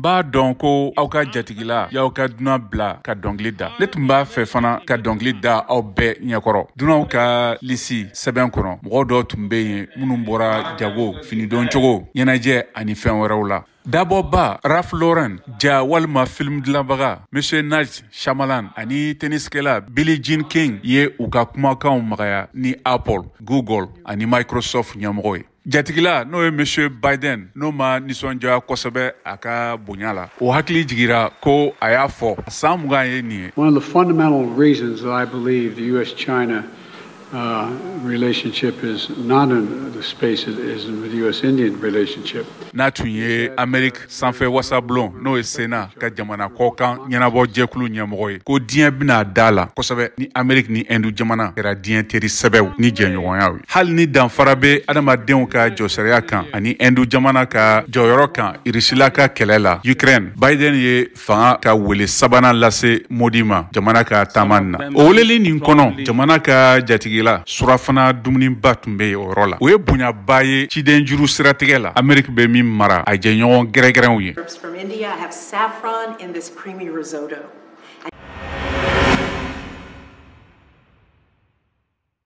b'a dɔn ko aw ka jatigila y'aw ka dunan bila ka dɔngili da ne tun b'a fɛ fana ka dɔngili da aw bɛɛ ɲɛkɔrɔ dunanw ka lisi sɛbɛn kɔnɔ mɔgɔ dɔw tun bɛ yen minnu bɔra jago finidon cogo ɲɛnajɛ ani fɛn wɛrɛw la dabɔba ralph lauren ja walima film dilanbaga monsieur night shyamalan ani tenniskɛla billie jean king ye u ka kumakanw magaya ni apple google ani microsoft ɲɛmɔgɔ ye Jatigila n'o ye monsieur Biden n'o ma nisɔndiya kosɛbɛ a ka bonya la, o hakili jigira ko a y'a fɔ san mugan ye nin ye. One of the fundamental reasons that I believe the US China uh, relationship is not in the space it is in the US Indian relationship. N'a tun ye Amerique sanfɛ wasablon n'o ye sena ka jamana kɔkan ɲɛnabɔ jɛkulu ɲɛmɔgɔ ye ko diɲɛ bɛna da la kosɛbɛ ni ameriki ni ɛndu jamana kɛra diɲɛ teri sɛbɛw ni jɛɲɔgɔnyaw ye hali ni danfara bɛ adamadenw ka jɔsariya kan ani ɛndu jamana ka jɔyɔrɔ kan irisila ka kɛlɛ la ukraine biden ye fanga ka wele sabanan lase modi ma jamana ka taama na o weleli nin kɔnɔ jamana ka jatigila surafana dumuniba tun bɛ yen o yɔrɔ la o ye bonyaba ye ciden juru siratigɛ la ameriki bɛ min mara a jɛɲɔgɔn gɛrɛgɛrɛw ye